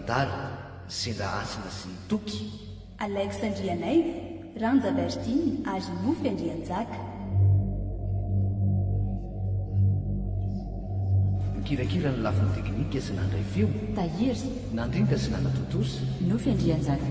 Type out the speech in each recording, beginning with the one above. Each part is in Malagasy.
Dada, sendra hasina sy ny toky. Alex Andrianaivo, Randja Bertine ary Nofy Andrianjaka. Nikirakira ny lafiny teknika sy nandray feo. Tahiry. Nandrinda sy nanatontosa. Nofy Andrianjaka.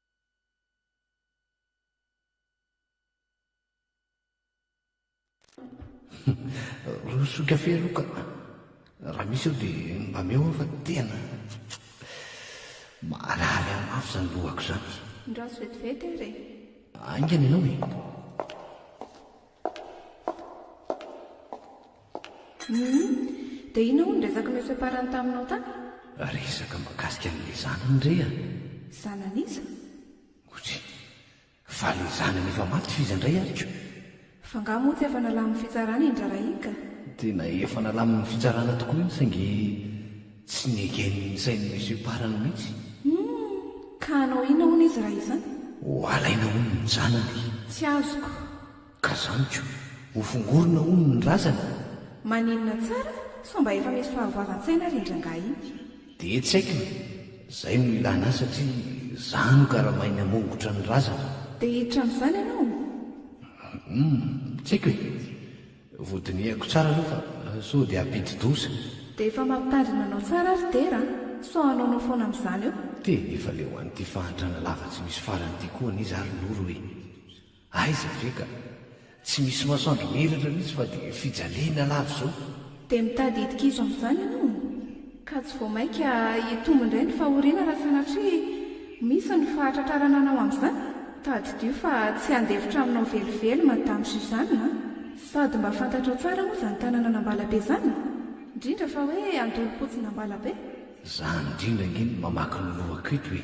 Roso kafe aloha ka. Raha misy eo dia mba meo aho fa tena marary ahy mafy izany lohako izany. Ndraso vetivety ary e. Haingana ianao e. Humm. Dia inona hono ny resaka noesoeparany taminao tany? Resaka mikasika an'ilay zanany re a! Zanan'iza? Ouch. Fa ilay zanany efa maty f'iza indray ary ko? F'angaha moa tsy efa nalamin'ny fitsarana i Ndrarahika? Tena efa nalamin'ny fitsarana tokoa iny saingy. Tsy negen'sain'i Monsieur Parang mihitsy. Humm! Ka hanao inona hono izy raha izany? Ho halaina hono ny janany. Tsy azoko. Ka zany ko! Ho fongorina hono ny razana. Maninona tsara? Sao mba efa misy fahavoavan-tsaina ary indry angaha iny? Dia tsy haiko e! Zay no ilana ahy satria za no karamain'ny hamongotra ny razana. Dia hiditra amin'izany ianao? Humm! Tsy haiko e! Vodinihako tsara aloha fa sao dia hampidi-doza. Dia efa mampitandrina anao tsara ry Dera a! Sao hanaonao foana amin'izany eo. Dia efa leo an'ity fahantrana lava tsy misy farany ity koa anie za ry Noro e! Aiza ve ka! Tsy misy masoandro miratra mihitsy fa dia fijaliana lava izao. Dia mitady hidikizo amin'izany ianao? ka tsy vao mainka hitombo indray ny fahoriana raha sanatria misy ny fahatratrarana anao amin'izany, tadidio fa tsy handefitra aminao velively Madame Suzanne a! Sady mba fantatrao tsara moa izany tanàna an'Ambalabe izany e! indrindra fa hoe Andolompotsina Ambalabe. Za indrindra ange no mamaky ny lohako eto e!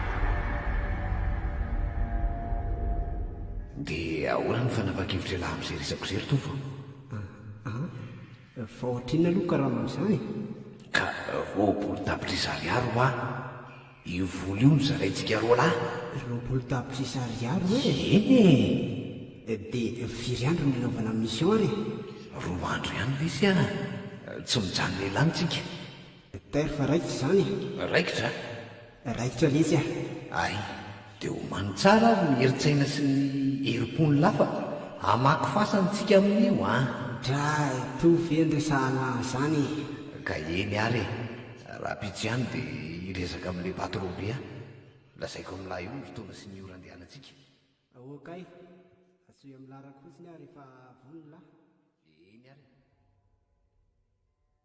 Dia ahoana ny fanapa-kevitra ialahy amin'izay resako izay ry Tovo a? An? Fa ohatrinona aloha karama amin'izany? Ka roapolo tapitrisa ariary hoa io vola io no zaraintsika roa lahy? Roapolo tapitrisa ariary hoe? Eny e! Dia firy andro no hanaovana mission ary? Roa andro ihany ve sa tsy mijanona ela any tsika? Docteur fa raikitra izany e! Raikitra? Raikitra letsy ah! Ay, dia homano tsara ary ny herin-tsaina sy ny herim-po ny lafa ka hamaky fasana tsika amin'io an! Dra e! Toa ve ny resahanao an'izany e! Ka eny ary e! Rahampitso ihany dia hiresaka amin'ilay patron be aho. Lazaiko amin'ilay io ny fotoana sy ny ora andehanantsika. Ok, antsoy amin'ny larako fotsiny aho rehefa vonona. Eny ary e!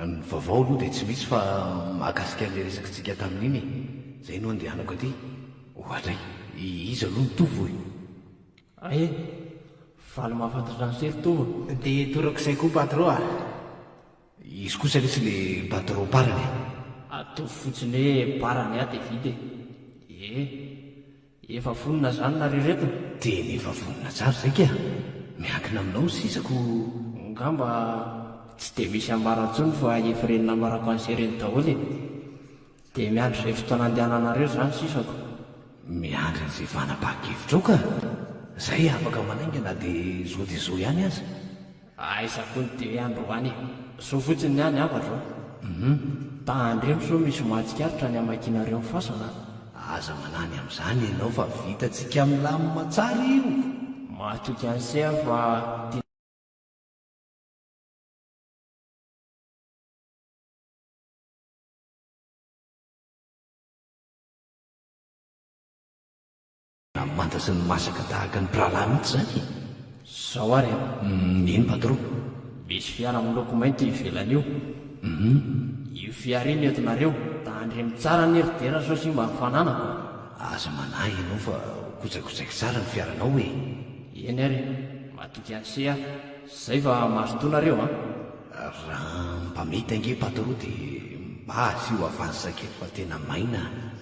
Ny vaovao aloha dia tsy misy fa mahakasika an'ilay resakitsika tamin'iny e! Izay no andehanako aty. Ohatra e! Iza aloha no Tovo e? Ahy e! Faly mahafantatr'an'i Soa ry Tovo e! Dia torako izay koa Patro a! Izy kosa lesy le Patro parany e! Ataovy fotsiny hoe parany aho dia vita e! Ie! Efa vonona zany nareo reto? Tena efa vonona tsara zay kay a! Miankina aminao ny sisa ko! Ngamba tsy dia misy ambara intsony fa efa ireny nambarako an'ise ireny daholo e! Dia miandry izay fotoana andehananareo za ny sisako. Miandry an'izay fanapahan-kevitrao ka! Zay afaka manainga na dia zao dia zao ihany aza. Aiza koa ny télé androany e! Zo fotsiny ny any afa zao. Hum. Tandremo sao misy mahatsikaritra ny hamakianareo ny fasana a! Aza manany amin'izany ianao fa vitantsika milamina tsara io! Matoky an'i Sea aho fa tian'i. Ny manta sy ny masaka tahaka ny mpirahalahy mihitsy izany e! Zao ary an! Nino patron. Misy fiara miloko mainty eo ivelany io. Hum. Io fiara io no entinareo? Tandremo tsara anie ry Dera sao simba ny fananako a! Aza manahy ianao fa ho kotsakotsaiky tsara ny fiaranao e! Eny ary e! Matoky an'ise aho. Zay fa mazotoa nareo an! Raha mba mety ange patron dia mba asio avance kely fa tena maina a!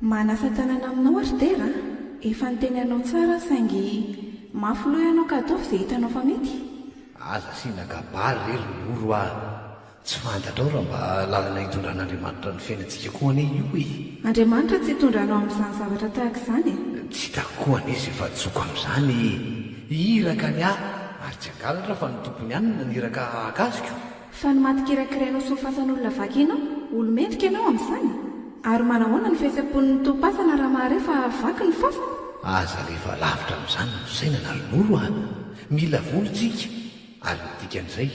Manasa tanana aminao aho ry Tera a! Efa niteny anao tsara aho saingy mafy loha ianao ka ataovy izay hitanao fa mety. Aza asiana kabary re ry Noro a! Tsy fantatrao raha mba lalana hitondran'Andriamanitra ny fiainantsika koa anie io e! Andriamanitra tsy hitondra anao amin'izany zavatra tahaka izany e! Tsy hitako koa anie izay fahadisoako amin'izany e! Iraka ny ahy ary tsy hangalatra fa ny Tompo ihany no naniraka hahakasiko. Fa ny maty kirakirainao sy ho fasan'olona vaky aina, olo-mendrika ianao amin'izany? Ary manahoana ny fihetsem-pon'ny ntom-pasana raha mahare fa vaky ny fasana? Aza alefa lavitra amin'izany ny fisainana ry noro a! Mila vola isika ary ny dikan'izay,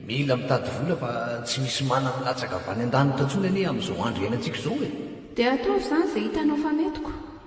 mila mitady vola fa tsy misy mana milatsaka avy any an-danitra intsony anie amin'izao andro iainantsika izao e! Dia ataovy izany izay hitanao fa mety ko!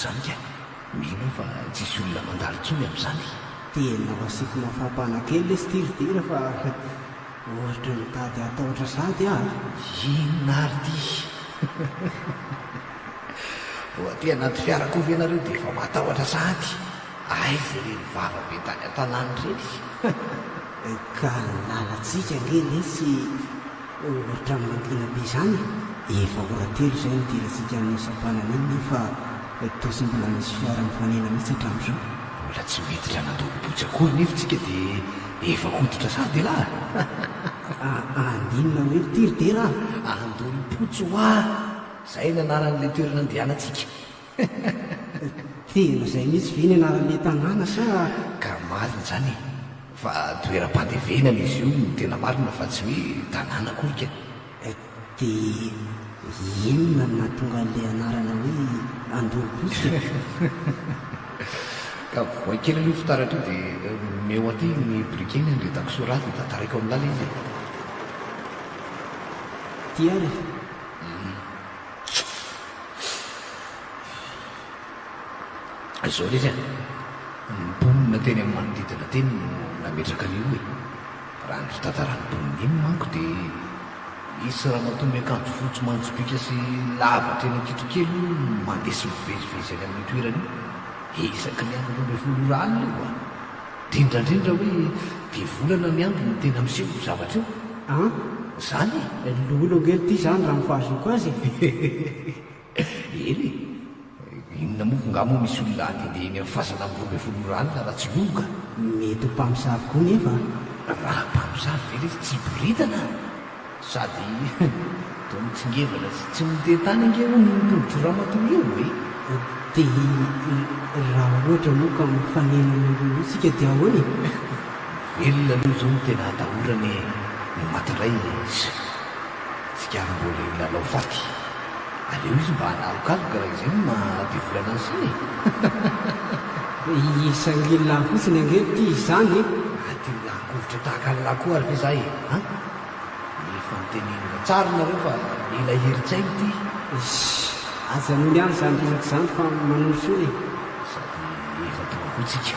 Zany kay, mino aho fa tsisy olona mandalo tsony amzany. Tena masiky mafampana kely le style hira fa ohatra mitady hatahotra sady aho a! Inona ary ty? Vao aty anaty fiara koa ve nareo dia efa matahotra sahady? Aiza ireny vava be tany an-tanàna ireny? Ka ny lalantsika ange lesy ohatra mangina be izany e! Efa ora telo izay nidirantsika amin'iny sampanana iny nefa toa tsy mbola misy fiara mifanena mihitsy hatramin'izao. Mbola tsy miditra nandoabobotsy akory nefa tsika dia efa hoditra sady ialahy! Andinona hoe ity ry Dera a! Andonim-potsy hoa! Izay ny anaran'ilay toerana andehanantsika. Tena izay mihitsy ve ny anaran'ilay tanàna sa karaha marina izany e? Fa toeram-pandevenana izy io no tena marina fa tsy hoe tanàna akory ka e! Dia inona no nahatonga an'ilay anarana hoe Andoropotsika e? Ka voay kely aloha io fitaratra io dia omeo aty ny briquet ny handrentako soraha dia tantaraiko amin'la ilay izy e! Ty ary e! Zao lesy a, ny mponina teny amin'ny manodidina teny no nametraka an'io e. Raha ny fitantaran'ny mponina iny manko dia misy ramatoa miakanjo fotsy manjopiaka sy lava hatreny an-kitrokely io no mandeha sy mivezivezy any amin'io toerana io isaky ny amin'ny roa ambin'ny folo ora alina io a! Drindrandrindra hoe dia volana miandry no tena miseho io zavatra io an! Zany e! Lolo ange ity zany raha ny fahazoako azy e! Hehe! Eny e! Inona moa ngah moa misy olona handehandeha eny amin'ny fasana amin'ny roa ambin'ny folo ora alina raha tsy lolo ka! Mety ho mpamosavy koa nefa a! Raha mpamosavy ve ilay izy tsy hiboridana? Sady toa mitsingevana sy tsy mite tany ange hono io tolotr'i ramatoa io e! Dia raha ohatra moa ka mifanena amin'ireo isika dia ahoana e? Velona aloha izao no tena atahorana e! Ny maty indray tsy tsikariny mbola eo lalao faty. Aleo izy mba hanalokaloka raha izay no maha be vola anazy sisa e! Hisangililahy fotsiny ange ity izany e! Nahakovitra tahaka an'lah koa ary ve za e a! Ny fanontenian'lah. Tsara nareo fa mila hirin-tsaina ity. Ish! Aza anolo ihany zany resaka zany fa manolo fona e! Sady efa tonga koa tsika.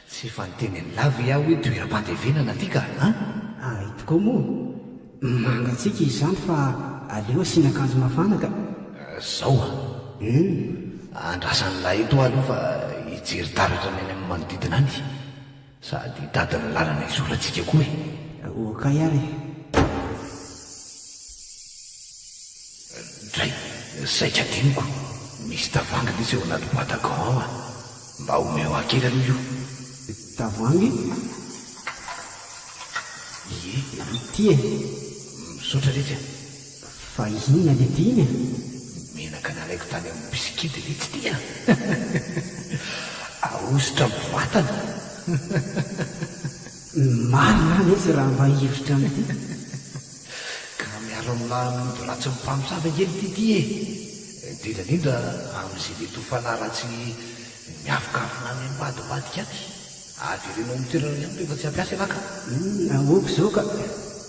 Tsy efa niteny an'i la ve aho hoe toeram-pandevenana ty ka an! Ay tokoa moa. Mangatsiaka izany fa aleo asiana akanjo mafana ka. Zao an! Humm! Andrasan'i la eto aho aloha fa hijery taratra ny any amin'ny manodidina any. Sady hitady ny lalana hizorantsika koa e! Ho kay ary e! Dray, saika adinoko, misy tavoahangy lesy ao anaty boite à gants ao a! Mba omeo ahy kely aloha io. Tavoahangy? Ie, ity e! Misaotra lesy a! Fa inona lety iny a? Menaka nalaiko tany amin'ny bisikidy letsy ity a! Ahosotra amin'ny vatana! Ny marina anie izy raha mba hihevitra an'ity ka miara milaha amin'ny ody ratsin'ny mpamosavy ange ny TT e! indrindra indrindra amin'izay mety ho fanahy ratsy miafokafona any ambadimbadika any! avereno amin'ny toerana ihany rehefa tsy hampiasa ialahy ka! Aoka izao ka!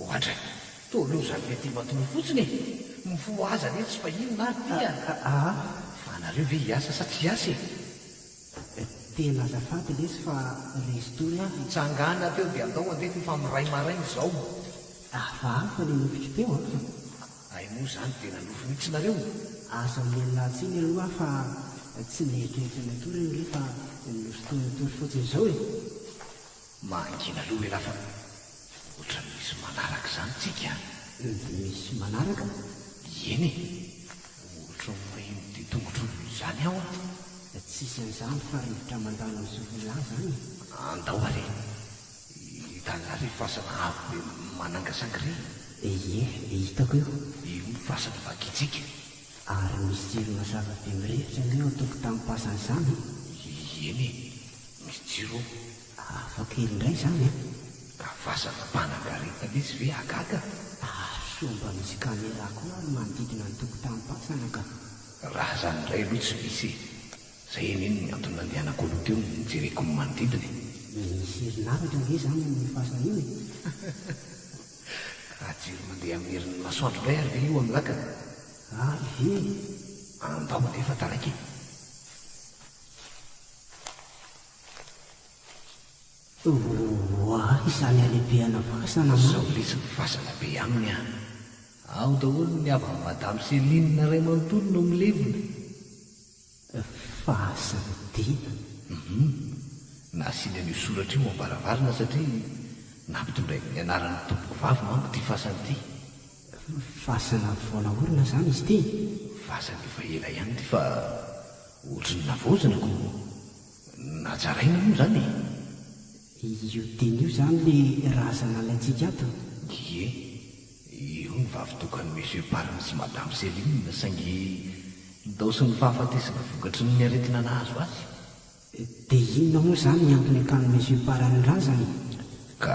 Ohatra, toa loza be tia matory fotsiny e! Mifoha azy anie tsy fa inona ary ty an! Aa! Fa anareo ve hiasa sa tsy hiasa e? Tena azafady lesy fa lesy tony aho. Hitsangàna teo dia andao handeha fa efa miray maraina izao. Hafahafa ny nofiko teo an! Hay moa izany dia nanofy mihitsy nareo? Aza mialà tsiny aloha aho fa tsy nieritreritra ny hatory ange fa nosintonintory fotsiny izao e! Mangina aloha ialahy fa ohatra misy manaraka izany tsika an! Dia misy manaraka? Eny e! Ohatra ho reny dia tongotro noho izany aho an! Tsisy an'izany fa rivotra mandalo amin'ny sofin'lah izany e! Andao ary e! Hitan'lah re fasana avo be manangasanga re e! Ie, hitako io! Io ny fasana vakitsika! Ary misy jiro mazava be mirehitra anie ao an-tokotanim-pasana izany an! Ieny e! Misy jiro ao. Hafa kely indray izany an! Ka vazana mpanangaretana izy ve hagaga? Ary sao mba misy camera koa ary manodidina ny tokotanim-pasana ka! Raha izany indray aloha tsy misy e! Izay anie no antony nandehanako aloha teo nijereko ny manodidina e! Misy herinaratra ange izany amin'io fasana io e! Raha jiro mandeha amin'ny herin'ny masoandro indray ary ve io amin'ny lakana? A he! Andao alefa taraiky e! Oah, izany halehibehana fasana aminy! Sao letsy ny fasana be aminy an! Ao daholo ny havan'i Madame Céline ray manontolo no milevina. Fahasarotena. Humm. Nasiany an'io soratra io am-baravarana satria nampitondrainy ny anaran'ny tompoko vavy manko ity fasana ity. Fasana vao naorina izany izy ity? Fasana efa ela ihany ity fa ohatry ny navaozina koa. Najaraina moa izany e. Io teny io izany le razana alaintsika ato? Ie, io ny vavy tokan'i Monsieur Parme sy Madame Céline saingy indaosin'ny fahafatesana vokatry ny aretina nahazo azy. Dia inona moa izany ny antony akan'ny Monsieur Parme razana e? Ka.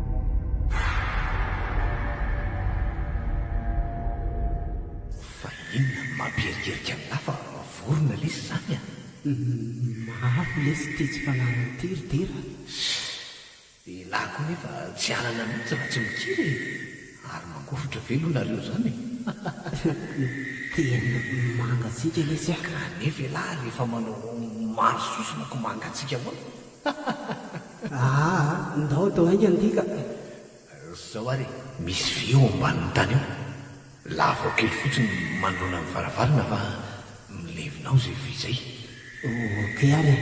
Fa inona no mampierikerika ny lafa vao mavorona lesy izany a? Mafy lesy ity tsy fanariny ity ry Dera a! Shh! Elah koa nefa tsy hialana mihitsy raha tsy mikiry e! Ary mangofotra ve aloha nareo izany e? Tena mangatsiaka lesy a! Kanefa elah rehefa manao maro sosona ko mangatsiaka ahoana? Aa ndao to ainga ndy ka eh. Zao ary e. Misy vy eo ambanin'ny tany eo. Lavao kely fotsiny manoloana ny varavarana fa milevina ao izay vy izay. Ok ary e.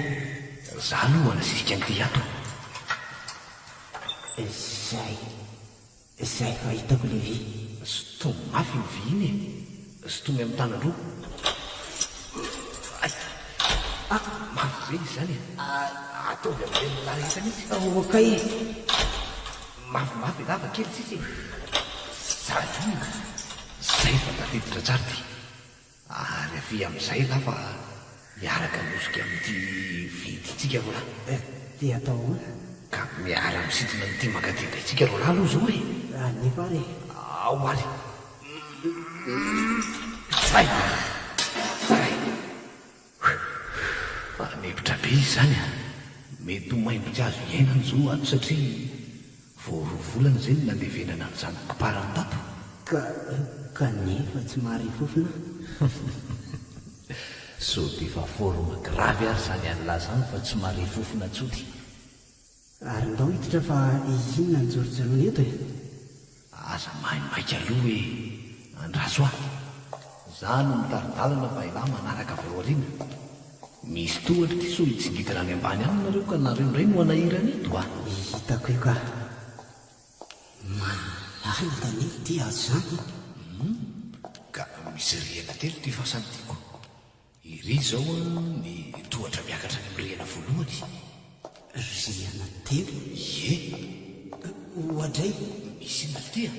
Za aloha manasisika an'ity ato. Izay. Izay fa hitako ilay vy. Zotomy mafy io vy iny e! Zotomy amin'ny tanany roa. Ay! Ah! Mafy be izy izany e! Ataovy amin'ireny lala iny mihitsy fa ok e! Mafy mafy lava kely sisa e! Zara inona? Izay fa tafiditra tsara ity. Ary avia amin'izay ialahy fa miaraka miosika amin'ity vidintsika roalahy eh! Dia atao ahoana? Ka miara misintona amin'ity mankaty be tsika roalahy aloha izao re! Raha nefa ary eh! Ao ary! Zay! Zay! Whew! Anemotra be izy izany a! Mety ho maimboka azo iainana izao ato satria vao roa volana izay no nandevenana an'izany kparany tato. Ka, kanefa tsy mahare fofona an! Sao dia efa forme grave ary izany an'lah izany fa tsy mahare fofona tsotra. Ary ndao hiditra fa inona no jorojoroina eto e? Aza maimaika aloha hoe andraso ahy. Za no mitari-dalana fa elah manaraka avy ao aoriana. Misy tohatra ty sao hitsingidina any ambany any nareo ka nareo ndray no hanahirana eto a! Hitako io ka. Malalaka anie ity azo izany e! Hum ka misy rihana telo ity fasany ty ko. Ery izao ny tohatra miakatra any amin'ny rihana voalohany. Rihana telo? Ie. Oadray! Misy inona avy ity a?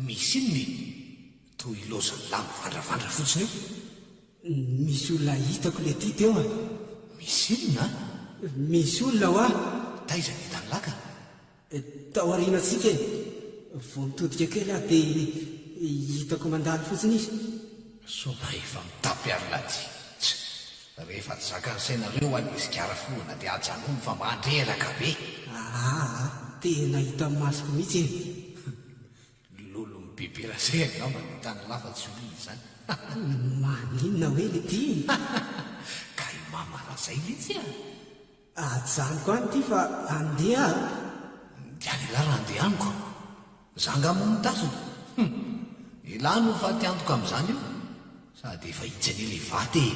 Misy inona e? Toa ilaozan'ny lahy mivandravandra fotsiny eo. Misy olona hitako le ty teo a! Misy inona a? Misy olona hoa! Taiza ny hitan'i lahy ka? Tao aorianantsika e! Vao nitodika kely aho dia hitako mandalo fotsiny izy. Sao mba efa mitapy ary laty? Tch! Rehefa tsy zakan'ny sainareo ho'a ny sigara foloana dia ajanony fa mandreraka be! Ahaa! Tena hita amin'ny masoko mihitsy e! Humm! Lolon'ny bebera zay angamba no tany lafa tsy olona izany! Haha! Maninona hoe le ty? Hahaha! Ka i mama raha zay mihitsy a! Ajanoko any ity fa andeha a! Dia an'ialahy raha andeha amiko? Za angaha moa no tazony? Hum! Ialahy no faty antoka amin'izany io, sady efa hitsy anie ilay vato e!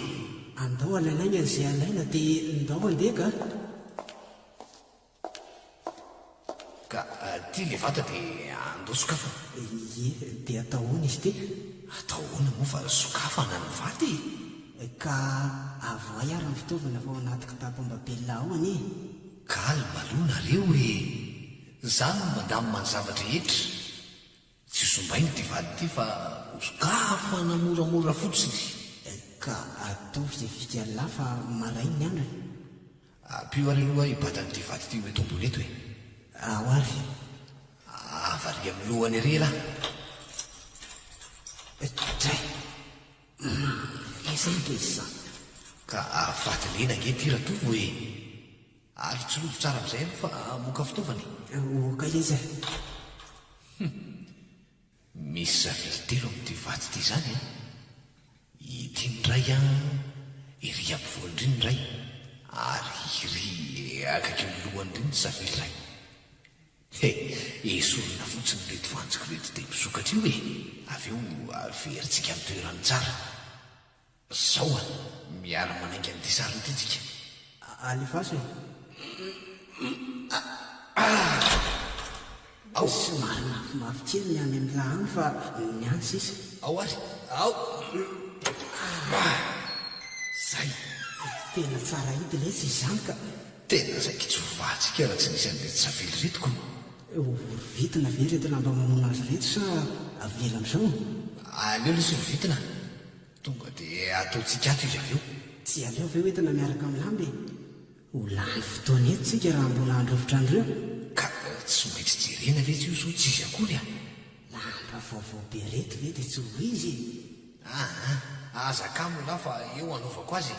Andao alainaina izay alaina dia ndao andeha kah! Ka aty le vata de andao sokafana. Ie, de atao ahoana izy ty? Atao ahoana moa fa sokafana ny vata e! Ka avohay ary ny fitaovana fa ao anaty kitapo ambabelina ao anie e! Calme aloha nareo e! Za no mandamina ny zava-drehetra. Tsy zombaina ity vady ity fa osokafana moramora fotsiny. Ka ataovy izay vika an'lah fa maray ny andro e. Ampio ary aloha i Bata an'ity vady ity ho eto ambony eto e. Ao ary ve? Avariha amin'ny lohany ery elah. Dray! Maharesy ahy ve izany? Ka afaty lena ange ity Ratovo e. Ary tsy rojo tsara amin'izay aloha fa moka fitaovana e! Moka izy e! Hum! Misy zavily telo amin'ity vato ity izany an! Ity ny iray an, ery ampovoany iry ny iray, ary iry akaikin'ny lohany iry ny zavily iray. He! Esorina fotsiny ireto fantsika ireto dia misokatra eo e! Avy eo averintsika amin'ny toerany tsara. Zao an! Miara manainga an'ity sariny ity tsika. Alefaso e! Ao! Somary mafimafy kely ny any amin'ny lahany fa ny any sisa. Ao ary! Ao! Zay! Tena tsara hidina etsy izany ka! Tena zay kitsovahantsika raha tsy nisy an'ireto savily ireto kony! Horovitina ve ireto lamba mamono azy ireto sa avela amin'izao? Aleo lesy horovitina Tonga dia ataontsika ato izy avy eo. Tsy aleo ve hoentina miaraka amin'ny lamba e? Ho lany fotoana eto tsika raha mbola handry hovitra andro eo. Ka tsy maintsy jerena ve tsy io sao tsy izy akory a! Lamba vaovao be reto ve dia tsy ho izy e? Aa, aza kamo lah fa eo hanaovako azy e!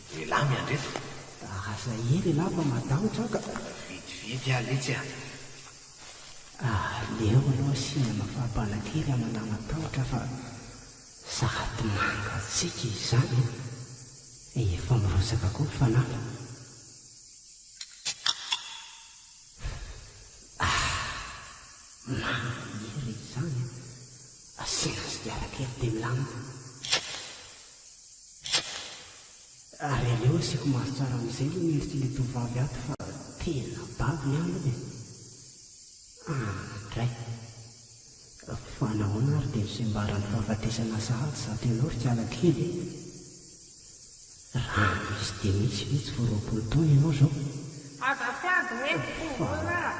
Lehilahy miandreto. Aza ee lehilahy fa matahotra aho ka. Vitividy aho letsy a. Aleo aloha asiana mafampana kely amanà matahotra fa sady mangatsiaka izany efa mirotsaka koa ny fanahy. Ahh maniry izany a. Asiana sigara kely dia milamina. Ary aleo asiako maso tsara amin'izay aloha ny endrikin'ilay tovovavy ato fa tena babo ny androny e! Ah, indray! Fa nahoana ary dia nosembaran'ny fahafatesana sahady zato ianao ry kiala kely e? Raha misy dia misy ve tsy vao roapolo taona ianao izao? Aza sady hoe mpivory ah!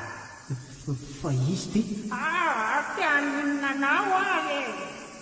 Fa, fa izy dia. Ah, te haninona anao ary e!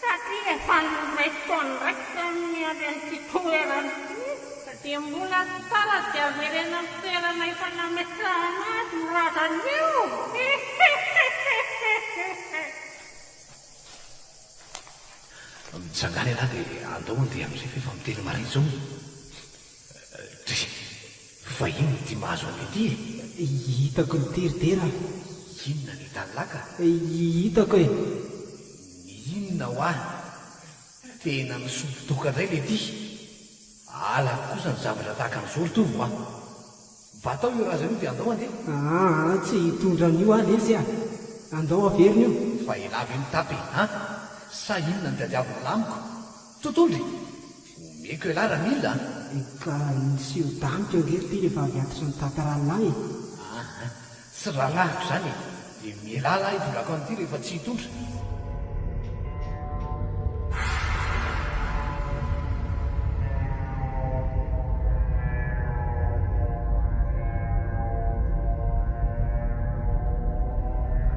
Satria efa niray taona iraika no niady an'ity toerana ity dia mbola tsy tsara dia averena amin'ny toerana efa nametrahana azy io razana io. Mitsangà lehilahy dia andao handeha amin'izay fa efa miteny marina izao e! Vahiny ity mahazo an'ilay ity e! Hitako ny tery dera a! Inona ny hitan'i Laka? Hitako e! Ny inona hoa? Tena misotro doka indray ilay ity! Halako kosa ny zavatra tahaka an'izao ry Tovo a! Mba atao io razana io dia andao handeha! Aa! Tsy hitondra an'io aho lesy a! Andao averina io! Fa elah ve mitapy e! An! Sa inona no tadiavin'ilay amiko? Tontolo e! Omeko elah raha mila a! Efa nisy io damoka io ange teny efa avy atitra ny tata rahalahy e! Aa! Tsy rahalahiko izany e! Dia mialà lahy hitondrako an'ity rehefa tsy hitondra.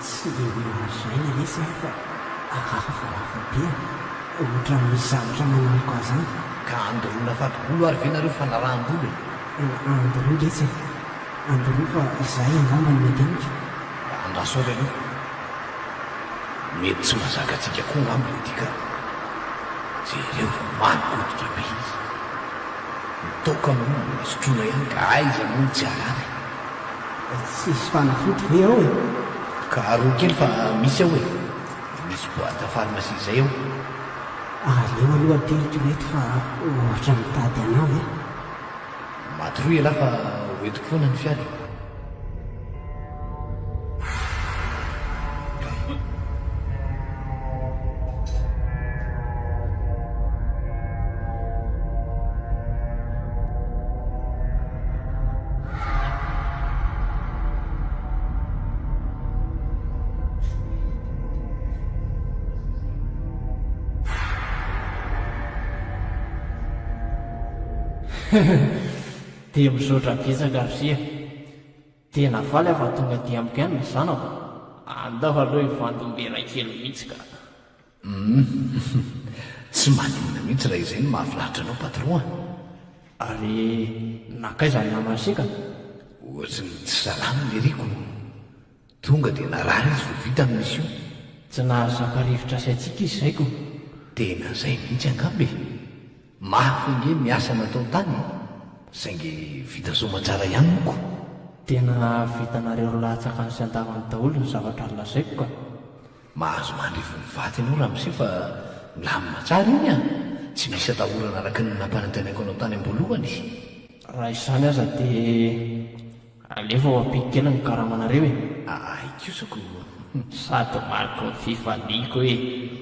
Tsy dia hoe lazaina lesy aho fa aza falafa be an! Ohatran'ny misy zavatra manalika ahy zany. Ka andoroana fadigolo ary ve nareo fanaraham-bolo e? Andoroy lesy e! Andoroy fa izahay angamba no mety amiko. Mba andraso ary aloha. Mety tsy mahazaka antsika koa angamba le tika. Jereo fa mangoditra be izy. Ny toaka moa mbola sotroina ihany ka aiza moa no tsy harary. Tsisy fanafody ve ao e? Karohy kely fa misy ao e. Misy boite à pharmacie zay ao. Aleo aloha teto ireto fa ohatra mitady anao e. Maty roa ialahy fa hoentiko foana ny fiara e. Dia mizotra betsaka ry sia. Tena faly aho fa tonga aty amiko ihany ny zanako. Andao aloha hivandombe iray kely mihitsy ka. Hum tsy maninona mihitsy raha izay no mahafinaritra anao patron a! Ary nankaiza ny namany seka? Ohatry ny tsy salama ny Eric o! Tonga dia narary izy vao vita ny mission. Tsy nahazaka rivotra sy hatsiaka izy izay ko! Tena izay mihitsy angamba e! Mafy ange ny asa natao tany e! Saingy vita soamantsara ihany moa ko! Tena vitanareo roa lahy tsakany sy andavany daholo ny zavatra nolazaiko ka! Mahazo mandrivony ny vatiny io ramose fa milamina tsara iny an! Tsy misy atahorana araka ny nampanantenaiko anao tany am-boalohany. Raha izany aza dia alefa ho ampihiko kely ny karamanareo e! Ahay kosa ko! Sady mariky ny fifaliako e!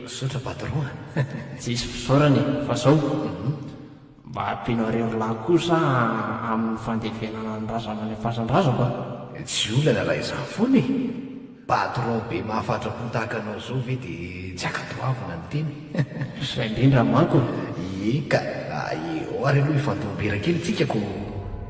Misaotra patron a! Tsisy fisaorana e! Fa zao! Mba ampiana irery lahy kosa amin'ny fandevenana ny razana any Ampasandrazoka a! Tsy olana raha izany foana e! Patron be mahafatra-po tahaka anao izao ve dia tsy ankadoavina ny tena e! Izay indrindra manko e! Ie ka! Aie! Ary aloha hifandom-bera kely tsika ko!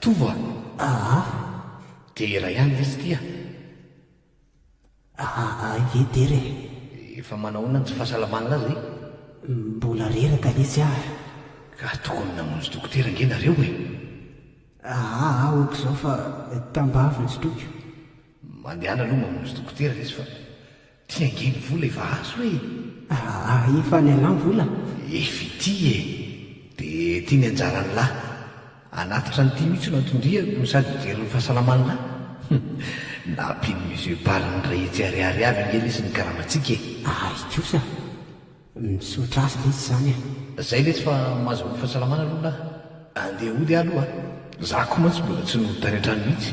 Tovo a! Aa! Dera ihany ve tsy tia? Aa ie dera e! Efa manao ahoana ny tsy fahasalamana azy e? Mbola reraka lesy ah! Ka tokony namonjy dokotera ange nareo e! Aa aoka izao fa tambavy ny sotroiko. Mandehana aloha mamonjy dokotera lesy fa Ty ange ny vola efa azo e! Aa efa ny anah ny vola? Efa ity e! De ty ny anjaran'lah? Hanatitra an'ity mihitsy no antondriako no sady hijery ny fahasalaman'lah? Hum! Nampian'i Monsieur Paly niray hetsy ariary avy ange lesy ny karamantsika e! Ay kosa! Misaotra azy lesy zany a! Zay lesy fa maza ho fahasalamana aloha lah! Andeha hody ah aloha a! Za ko mantsy mbola tsy nody tany an-trano mihitsy!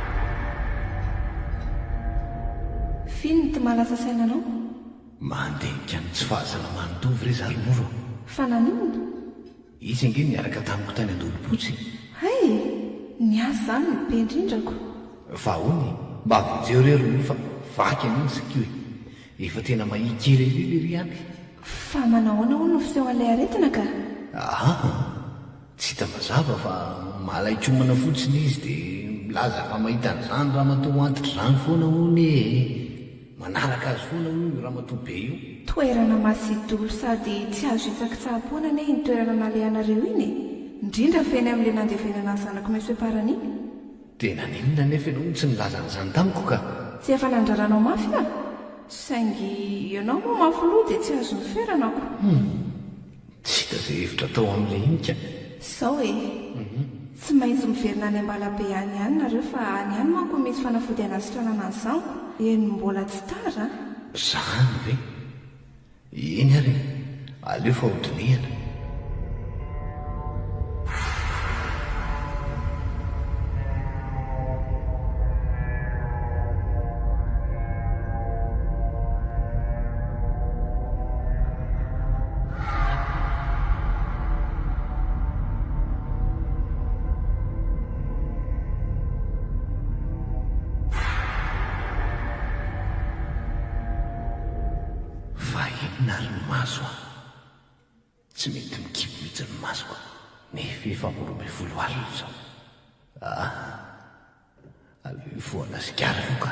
Firy ny tma lasa saina anao? Mandinika ny tsy fahasalaman'i Tovo re za ry moro a! Fa naninona? Izy ange niaraka tamiko tany Andolopotsy e! Hay e! Ny ahy izany no be indrindrako! Fa ahoana e? Mba avonjeo re ry moro fa vaky anio ny sakio e! Efa tena mahia kely an'io lery ampy! Fa manahoana hono no fisehoan'ilay aretina ka? Aa! Tsy hita mazava fa malaikomana fotsiny izy dia milaza fa mahita an'izany ramatoa ho antitra izany foana hono ee. Manaraka azy foana hono io ramatoa be io. Toerana masidolo sady tsy azo hitsakitsaha-poana anie iny toerana nalehanareo iny e! Indrindra fa eny amin'ilay nandevenana ny zanako Monsieur Parany iny. Dia naninona anefa ianao no tsy nilaza an'izany tamiko ka? Tsy efa nandrara anao mafy aho? Saingy ianao moa mafy loha dia tsy azon'ny ferana ko. Humm! Tsy hita izay hevitra atao amin'ilay hinika. Izao e! Tsy maintsy miverina any Ambalabe any ihany nareo fa any ihany manko no misy fanafody hanasitranana ny zaniko. Eny mbola tsy tara an! Zany ve? Eny ary e! Aleo fa ho dinihana. Fa inona ary ny maso an? Tsy mety mikibo mihitsy ny masoko nefa efa amin'ny roa ambin'ny folo alina izao. Ah! Aleo hifoha gasikara aloha ka!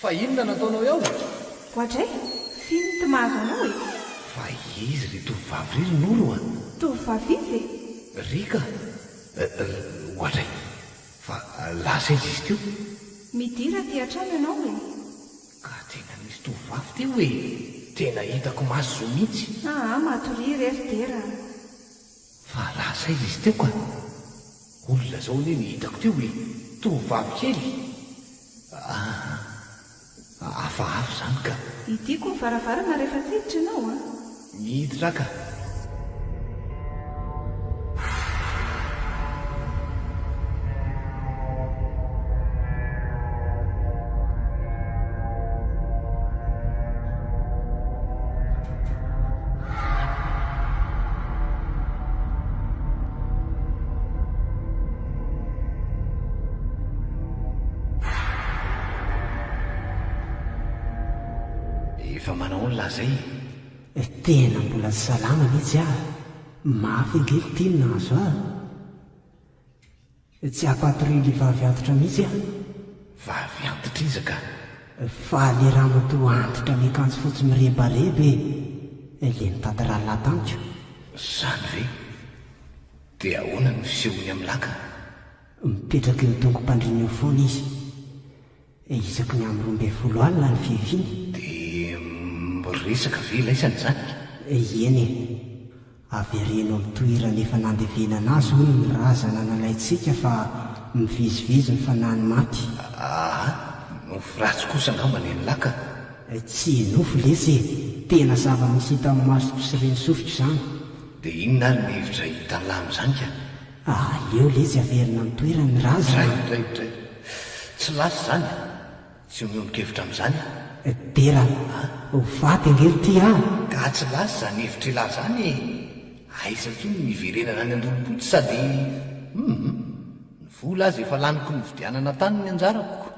Fa inona no ataonao eo? Goadray! F'inona to mahazo anao e? Fa izy ry tovovavy ry ry Noro a! Tovovavy izy e? Ry ka! Goadray! Fa lasa izy izy teo. Midira aty an-trano ianao e! Ka tena nisy tovovavy teo e! Tena hitako maso zo mihitsy. Aa matoria re ry Dera a! Fa lasa aiza izy teo ka? Olona zao anie ny hitako teo e! Tovovavy kely! Ahh! Hafahafa zany ka! Hidiako ny varavarana rehefa tsy hiditra ianao an! Miditra aho ka! Efa manao ny lazainy e! Tena mbola tsy salama mihitsy aho, mafy ange ity no nahazo ahy. Tsy afaty re le vavy antitra mitsy a! Vavy antitra iza ka? Fa le ramatoa antitra miakanjo fotsy mirebareba e! Le nitady rallah tamiko. Zany ve? De ahoana ny fisehony am lah ka? Mipetraka eo dongo-pandriana eo foana izy. Isaky ny amin'ny roa ambin'ny folo alina ny fiaviany. Dia miresaka ve ilay sady zany? Eny e! Avereno amin'ny toerana efa nandevenana azy hono ny razana nalaintsika fa mivezivezy ny fanahin'ny maty. Aa! Nofy ratsy kosa angamba ny an'la ka! Tsy nofy lesy e! Tena zava-misy hitan'ny masoko sy reny sofiko izany. Dia inona ary ny hevitra hitan'la amin'izany ka? Ah aleo letsy averina am toerany ny razana a! Dray, dray, dray. Tsy lasa izany e! Tsy miombon-kevitra amin'izany aho. Dera a! Ho faty ange ry ty a! Ga tsy lasa izany hevitr'ilahy izany e! Aiza intsony ny hiverenana any an-dolom-potsy sady hum! Ny vola aza efa laniko nividianana tany ny anjarako.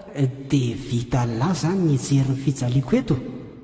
Dia vita lahy izany ny hijery ny fijaliako eto?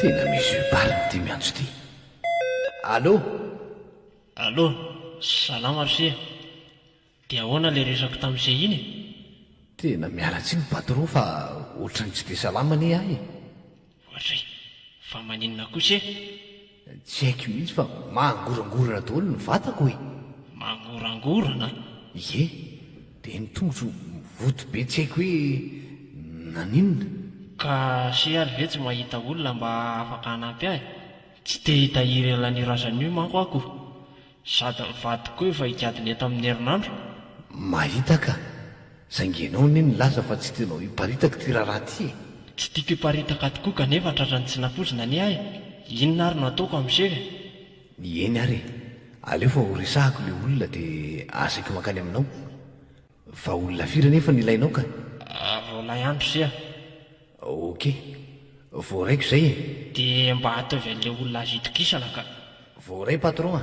Tena misy yeux barre ity miantso ity. Allô? Allô, salama f'se. De ahoana le resako tamin'se iny e? Tena miala tsiny patron fa otrany tsy de salama anie ahy e. Ohatr'izay. Fa maninona kosa e? Tsy haiko mihitsy fa mangorangorana daholo ny vatako e! Mangorangorana? Ie. Dia ny tongotro mivoto be tsy haiko hoe naninona. Ka se ary ve tsy mahita olona mba afaka hanampy ahy? Tsy te hitahiry an'io razana io manko aho ko. Sady mivadika koa efa hikady ny eto amin'ny herinandro. Mahita ka! Saingy ianao anie nilaza fa tsy tianao hiparitaka ity raharaha ity e! Tsy tiako hiparitaka tokoa kanefa tratran'ny tsy nampoizina anie aho e! Inona ary no ataoko amin'izay e! Eny ary e! Aleo fa ho resahako ilay olona dia asaiko mankany aminao. Vahaolona firy anefa no ilainao ka? Roalahy andro sy aho. Ok. Voaray ko izay e. Dia mba ataovy an'ilay olona azo itokisana ka. Voaray patron a.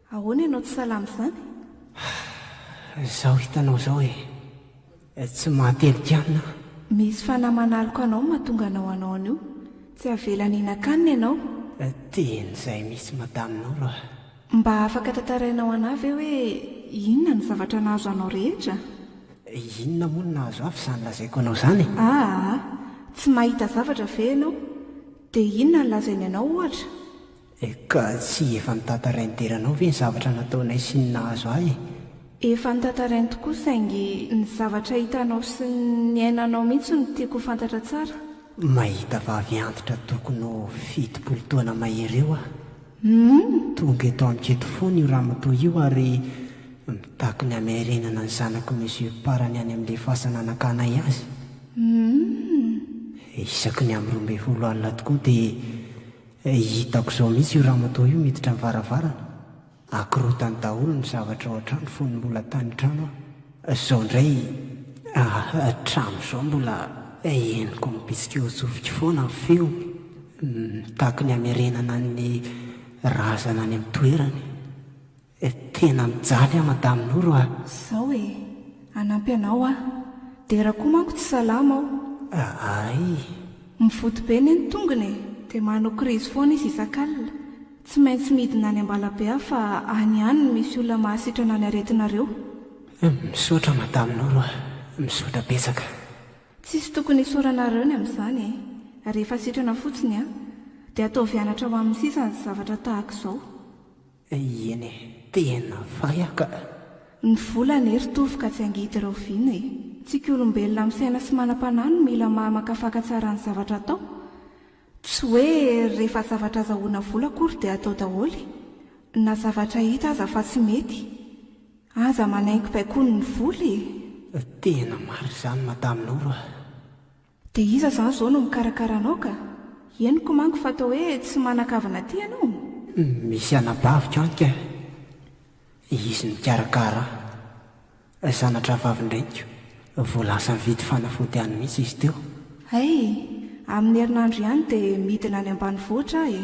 Ahoana ianao tsy salama izany? Izao hitanao izao e! Tsy mahatelik'anona aho. Misy fanahy manaloka anao no mahatonga anao hanao an'io. Tsy havelany hihinan-kanina ianao. Tiany izay misy madame Noro a! Mba afaka tantarainao an'ahy ve hoe inona ny zavatra nahazo anao rehetra? Inona moa no nahazo ahy f'izany lazaiko anao izany e? Aa! Tsy mahita zavatra ve ianao? Dia inona no lazainy anao ohatra? Eh, ka tsy efa notantarainy dera anao ve ny zavatra nataonay sy ny nahazo ahy eh? Efa notantarainy tokoa saingy ny zavatra hitanao sy ny niainanao mihitsy no tiako ho fantatra tsara. Mahita vavy antitra tokony ho fitopolo taona mahery eo aho. Hum! Tonga eto amiko eto foana io ramatoa io ary mitaky ny hamiarenana ny zanako mesure part ny any amin'ilay fasana nakanay azy. Hum! Isaky ny amin'ny roa ambin'ny folo alina tokoa dia Hitako izao mihitsy io ramatoa io miditra ny varavarana, akorotany daholo ny zavatra ao an-trano fony mbola tany trano aho. Izao indray hatramin'izao mbola henoko mibitsika eo an-tsofiko foana ny feony, mitaky ny hamerenana ny razana any amin'ny toerany. Eh tena mijaly an madame Noro a! Zao e! Hanampy anao aho. Dera koa manko tsy salama ao. Aaiii. Mivody be ne ny tongony e! Dia manao krizy foana izy isak'alina. Tsy maintsy midina any Ambalabe aho fa any ihany no misy olona mahasitrana ny aretinareo. Misaotra madame Noro a! Misaotra betsaka. Tsisy tokony hisaoranareo ny amin'izany e! Rehefa sitrana fotsiny an! Dia ataovy anatra ho amin'ny sisa ny zavatra tahaka izao. Eny e, tena vaiaka a! Ny vola anie ry Tovo ka tsy angidy ireo vina e! Tsika olombelona misaina sy manam-panahy no mila maha makafaka tsara ny zavatra atao. Tsy hoe rehefa zavatra azahoana vola akory dia atao daholo e! Na zavatra hita aza fa tsy mety. Aza manaingo baikony ny vola e! Tena marina izany Madame Noro a! Dia iza izany izao no mikarakara anao ka? Henoko manko fa toa hoe tsy manan-kavana aty ianao? Misy anabaviko any kay. Izy no mikarakara ahy. Zana-drahavavin-dreniko. Vao lasa nividy fanafody any mihitsy izy teo. Hay! Amin'ny herinandro ihany dia midina any ambanivohitra aho e!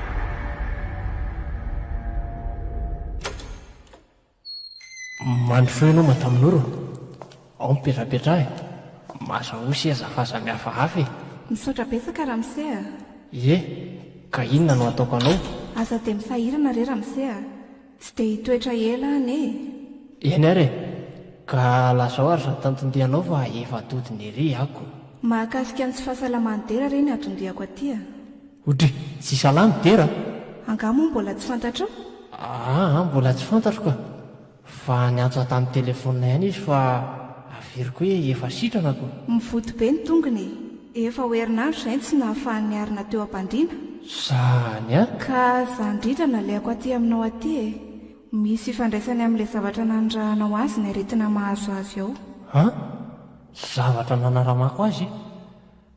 Mandry feo ianao Madame Noro a! Ao mipetrapetra e! Maza osy e! Aza f'aza mihafahafa e! Misaotra betsaka ramose a! Ie, ka inona no ataoko anao? Aza dia misahirana re ramose a! Tsy dia hitoetra ela any e! Eny ary e! Ka lazao ary izany tantindihanao fa efa todiny ery ako. Mahakasika ny tsy fahasalaman'i Dera re ny atondiako aty a! Odry! Tsy salama i Dera a! Angaha moa mbola tsy fantatrao? Aa mbola tsy fantatro ka! Fa niantso ahy tamin'ny telefonina ihany izy fa averiko hoe efa sitrana ako. Mivoty be ny tongony e! Efa ho herinandro izay no tsy nahafahan'i Niarina teo am-pandriana. Zany a! Ka za indrindra nalehako aty aminao aty e! Misy ifandraisany amin'ilay zavatra nanirahanao azy ny aretina mahazo azy ao. An! Zavatra nanaramako azy e!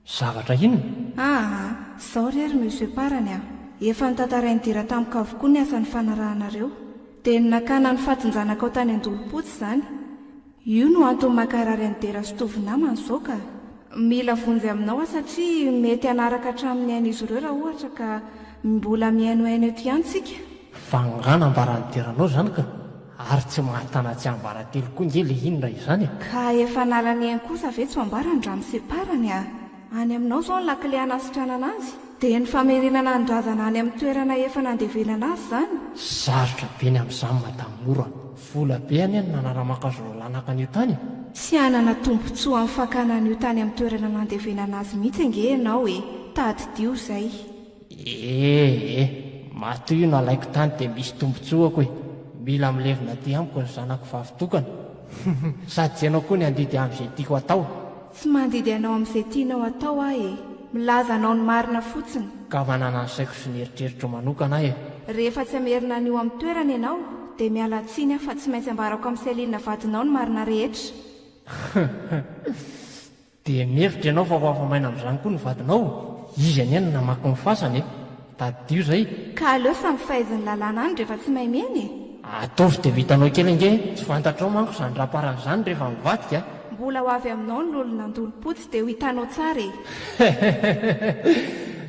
Zavatra inona? Aa! Zao re ry Monsieur Parany a! Efa notantarain'i Dira tamiko avokoa ny asa nifanaranareo. Dia ny nakana ny fatin-janakao tany Andolompotsy izany. Io no antony mankarary an'i Dera sy Tovo namany izao ka! Mila vonjy aminao aho satria mety hanaraka hatramin'ny ain'izy ireo raha ohatra ka mbola mihainohaino eto ihany tsika! Vangaha nambaran'i Dera anao izany ka! Ary tsy mahatana tsy ambaratelo koa nge le inona izany e! Ka efa anarany eny kosa ve tsy ho ambarany raha mi-séparany a! Any aminao izao ny lakile hanasitranana azy. Dia ny famerenana ny razana any amin'ny toerana efa nandevenana azy izany? Sarotra be ny amin'izany madame Mora. Vola be anie no nanara-mankazo ireo lanaka an'io tany e! Tsy hanana tombontsoa amin'ny fakana an'io tany amin'ny toerana nandevenana azy mihitsy ange ianao e! Tadidio izay. Eh eh, matoa io no alaiko tany dia misy tombotsoako e! Mila milevina aty amiko ny zanako vavy tokana. Huhum, sady tsy ianao koa ny handidy ahy amin'izay tiako atao. Tsy mandidy anao amin'izay tianao atao aho e! Milaza anao ny marina fotsiny. Ka manana ny saiko sy ny eritreritro manokana aho e! Rehefa tsy hamerina an'io amin'ny toerany ianao dia miala tsiny aho fa tsy maintsy ambarako amin'i Céline vadinao ny marina rehetra. Huhum. Dia mihevitra ianao fa ho afa-maina amin'izany koa ny vadinao? Izy anie no namaky ny fasany e! Tadidio izay! Ka aleo samy fahaizan'ny lalàna any rehefa tsy mahay miaina e! Ataovy dia ho hitanao kely ange e! Tsy fantatrao manko izany raparany izany rehefa mivadika a! Mbola ho avy aminao ny lolo nandolo-potsy dia ho hitanao tsara e! Heheheheheh!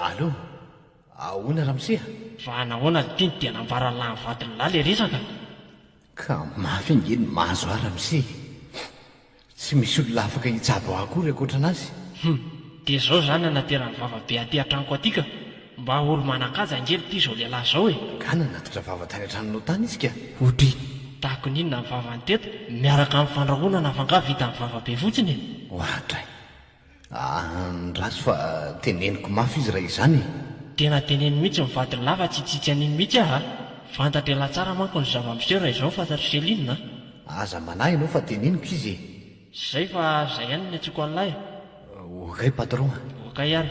Allo! Ahoana ramose a? Fa nahoana ry tinty dia nambaran'i lahy ny vadin'i lahy ilay resaka? Ka mafy ange ny mahazo ahy ramose e! Tsy misy olona afaka hitsabo ahy akory ankoatra anazy. Hum! Dia izao izany nanateran'ny vava be aty an-tranoko aty ka! Mba olo manan-kaja ange ry ty izao lehilahy izao e! Angaha nanatitra vava tany an-tranonao tany izy ka? Odry! Tahakony inona ny vavany teto miaraka amin'ny fandrahonana fa angaha vitan'ny vava be fotsiny e! Oadray! Andraso fa teneniko mafy izy raha izany e! Tena teneno mihitsy ny vadiny lava tsy hitsitsy an'iny mihitsy aho a! Fantatr' ialahy tsara manko ny zava-miseho raha izao fantatr'i Céline a! Aza manahy ianao fa teneniko izy e! Izay fa izay ihany ny antsoiko an'lah e! Okay patron a! Okay ary.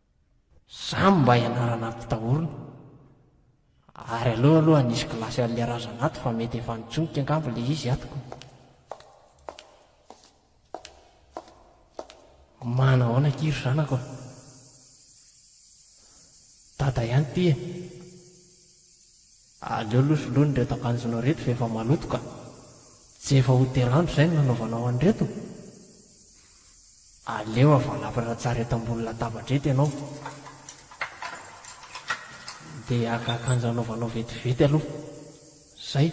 Zany mba ianarana ampitahorina. Ary aleo aloha nisy kilasy an'le razana ato fa mety efa nitsonika angamba le izy ato ko. Manahoana akia ry zanako a! Dada ihany ty e! Aleo aloha soloina ireto akanjonao ireto fa efa maloto ka! Tsy efa ho telo andro izay no nanaovanao an'ireto? Aleo avalapatra tsara eto ambony latabatra eto ianao. Dia haka akanjo hanaovanao vetivety aloha. Izay.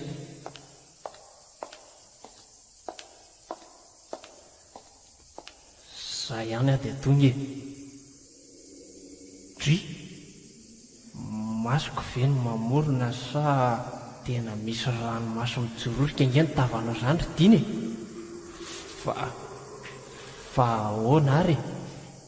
Za ihany aho dia tonga e! Dry! Masoko ve no mamorona sa tena misy ranomaso mijororoka ange ny tavanao zany ry Dina e! Fa fa ahoana ary e!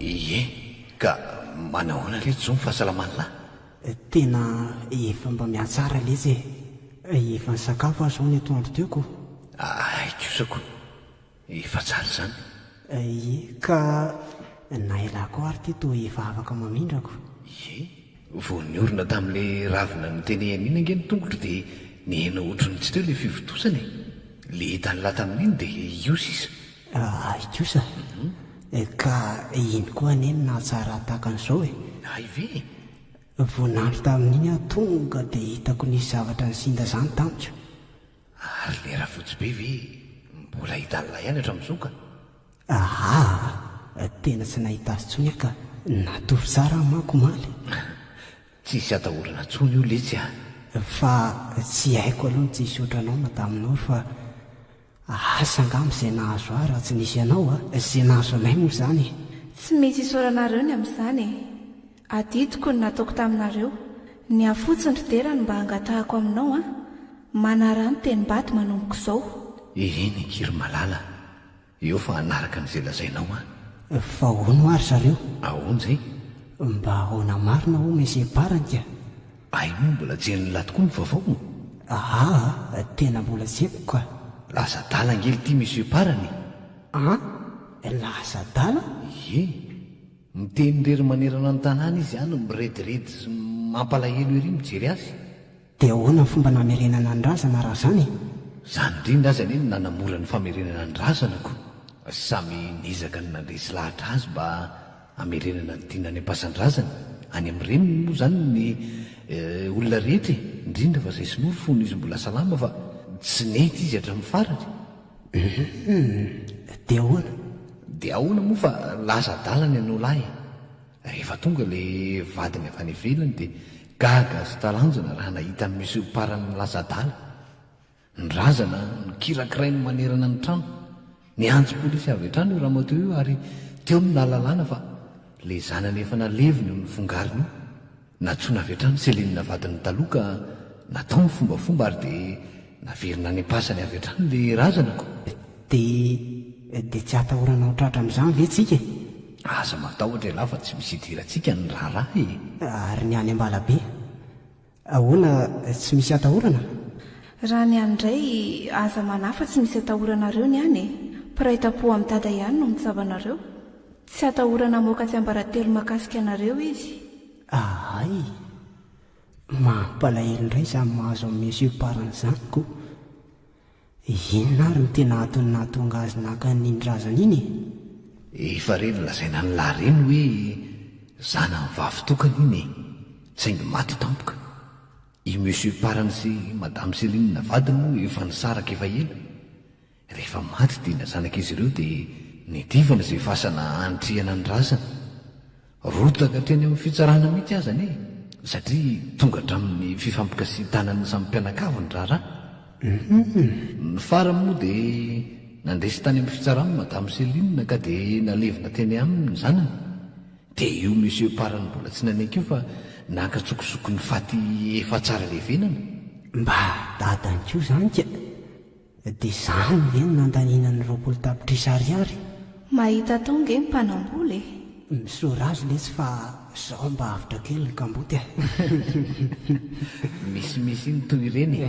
Ie, ka manahoana re jo ny fahasalaman'lah? Tena efa mba mihatsara letsy e! Efa nisakafo aho zao ny atoandro teo ko! Ahay kosa ko! Efa tsara izany! Ie, ka na elah ko ary ty toa efa afaka mamindra ko! Ie, vao niorina tamin'le ravina notenehaniana ange ny tongotro dia nihena ohatran'ny tsy teo le fivontosana e! Le hitan'lah tamin'iny dia io sisa Ahy kosa e! Ka iny koa anie no nahatsara tahaka an'izao e! Ahy ve e! Vao nandry tamin'iny aho tonga dia hitako nisy zavatra nisinda izany tamiko. Ary ilay Rafotsibe ve mbola hidalina ihany hatramin'izao ka? Ahaa! Tena tsy nahita azy intsony aho ka! Natory tsara aho manko omaly. Tsisy atahorana intsony io letsy a! Fa tsy haiko aloha ny tsy hisaotra anao Madame Noro fa Asa angamba izay nahazo ahy raha tsy nisy ianao a! Izay nahazo anay moa izany e! Tsy misy isaoranareo ny amin'izany e! Adidiko ny nataoko taminareo, ny ahy fotsiny ry Dera no mba hangatahako aminao an! Manaraha ny tenim-bady manomboka izao. Eny akia ry Malala, eo fa hanaraka an'izay lazainao an! Fa hono hoa ry zareo? Ahoana izay? Mba ahoana marina hono e sy e Baranty a! Ay moa mbola jelin'lah tokoa ny vaovao ô! Aa tena mbola jeko ka! Lasa adala ngely ity monsieur Parany e! An? Lasa adala? Ie! Miteny irery manerana ny tanàna izy an, mirediredy sy mampalahelo ery mijery azy! Dia ahoana ny fomba namerenana ny razana raha izany e? Izany indrindra aza anie no nanamora ny famerenana ny razana ko! Samy niezaka ny nandresy lahatra azy mba Hamerenana ny tiana any am-pasan-drazany, any amin'ny reniny moa izany ny olona rehetra e, indrindra fa izay sinoa ry fony izy mbola salama fa tsy nety izy hatramin'ny farany. Hum, dia ahoana? Dia ahoana moa fa lasa adala ny an'olà e! Rehefa tonga ilay vadiny avy any ivelany dia gaga sy talanjona raha nahita ny monsieur Parany lasa adala. Ny razana no kirakirainy manerana ny trano. Niantso polisy avy hatrany io ramatoa io ary teo no nahalalana fa ilay zanany efa naleviny io nifongarina io. Nantsoina avy hatrany Céline vadiny taloha ka natao ny fombafomba ary dia naverina any am-pasany avy hatrany ilay razana ko. Dia dia tsy atahorana ho tratra amin'izany ve tsika e? Aza matahotra ialahy fa tsy misy idirantsika ny raharaha e! Ary ny any Ambalabe? Ahoana tsy misy atahorana? Raha ny any ndray aza manafa tsy misy atahoranareo ny any e! Mpiray tampo am dada ihany no mitsaba anareo! Tsy atahorana mamoaka tsiambaratelo makasika anareo izy! Ahay! Mampalahelo ndray zany mahazo am monsieur parrain zany ko! Inona ary no tena antony nahatonga azy naka an'iny razana iny e? Efa re nolazaina an'i La Reine hoe zanany vavy tokana iny e! Saingy maty tampoka. I Monsieur Parany sy Madame Céline vadiny moa efa nisaraka efa ela. Rehefa maty dina zanak'izy ireo dia niadivana izay fasana hanitrihana ny razana. Rotaka hatreny amin'ny fitsarana mihitsy aza anie satria tonga hatramin'ny fifampikasihan-tanan'ny samy mpianakavy ny raharaha. Ny farany moa dia nandresy tany amin'ny fitsarana Madame Céline ka dia nalevina teny aminy ny zanany. Dia io Monsieur Parany mbola tsy nanaiky io fa nankatsokosoko ny faty efa tsara levenana. Mba dadany koa izany ka! Dia izany ve no nandaniana ny roapolo tapitrisa ariary? Mahita tao nge ny mpanambola e! Misaora azy letsy fa zao mba avotra kely ny kamboty a! Misimisy ny toy ireny e!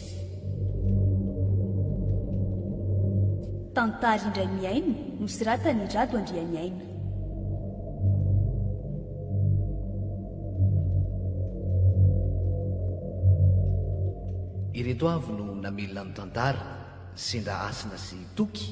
Tantara indray mihaino nosoratan'i Rado Andrianiaina. Ireto avy no namelona ny tantara, Sendra Hasina sy Toky,